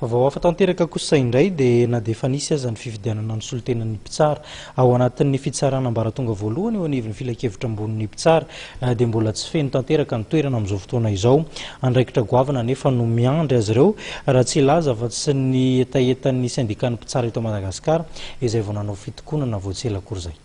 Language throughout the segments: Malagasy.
Vaovao hafa tanteraka kosa indray dia na dia efa nisy aza ny fifidianana ny solontenan'ny mpitsara ao anatin'ny fitsarana ambaratonga voalohany eo anivon'ny filankevitra ambonin'ny mpitsara eh, dia mbola tsy feno tanteraka ny toerana amin'izao fotoana izao. Andraikitra goavana anefa no miandry azy ireo raha tsy hilaza afa-tsy ny hetahetan'ny sendikan'ny mpitsara eto Madagasikara izay vao nanao fitokonana vao tsy ela akory izay.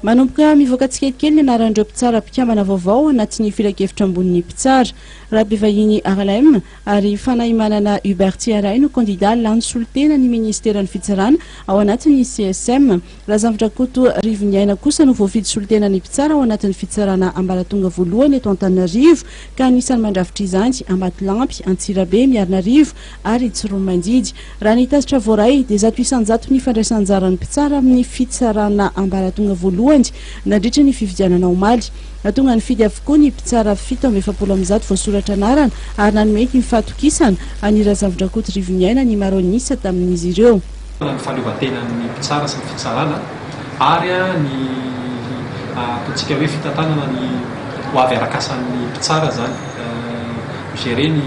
Manomboka mivoaka tsikelikely ny anaran'ireo mpitsara mpikambana vaovao anatin'ny filankevitra ambonin'ny mpitsara. Rabevahiny Arlem ary Fanahimanana Hubert Tsiaray no kandidà lany solontena ny minisiteran'ny fitsarana ao anatin'ny CSM. Razamdrankoto Rivoniaina kosa no voafidy solontena ny mpitsara ao anatin'ny fitsarana ambaratonga voalohany eto Antananarivo ka anisany mandrafitra izany Ambatolampy, Antsirabe, Miarinarivo, ary i Tsiromanjidy. Raha ny tatitra voaray dia zato isan-jato ny fandraisan-jaran'ny mpitsara amin'ny fitsarana ambaratonga voalohany nandritra ny fifidianana omaly. Nahatonga nifidy avokoa ny mpitsara fito amby efapolo amin'ny zato voasoratra anarana ary nanome ny fahatokisana an'i Razafindrankoto Rivoniaina ny maro an'isa tamin'izy ireo. ny fahaleovantenan'ny mpitsara sy ny fitsarana ary ny ataontsika hoe fitantanana ny ho avy arakasan'ny mpitsara izany mi-gérer ny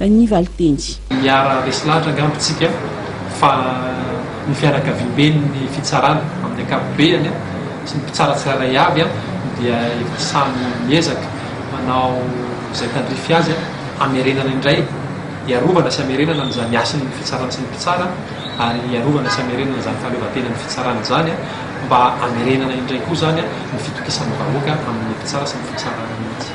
ny valinteny. Miara resy lahatra angamba isika fa ny fianakaviamben'ny fitsarana amin'ny ankapobeany sy ny mpitsara tsirairay avy dia efa samy miezaka manao izay tandrify azy hamerenana indray, hiarovana sy hamerenana an'izany hasin'ny fitsarana sy ny mpitsara ary hiarovana sy hamerenana izany fahaleovantenan'ny fitsarana izany mba hamerenana indray koa izany ny fitokisan'ny vahoaka amin'ny mpitsara sy ny fitsarana mihitsy.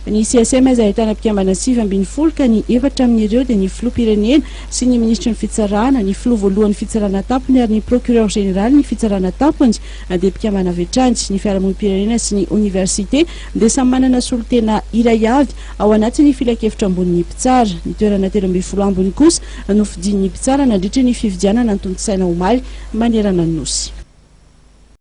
Ny CSM izay ahitana mpikambana sivy ambin'ny folo ka ny efatra amin'ireo dia ny Filoham-pirenena sy ny Minisitry ny Fitsarana, ny Filoha voalohan'ny Fitsarana an-tampony ary ny Procureur Generalin'ny Fitsarana an-tampony dia mpikambana avy hatrany. Ny Fiarahamonim-pirenena sy ny Oniversite dia samy manana solontena iray avy ao anatin'ny Filankevitra Ambonin'ny Mpitsara. Ny toerana telo ambin'ny folo ambiny kosa no fidin'ny Mpitsara nandritra ny fividianana tontosaina omaly manerana ny Nosy.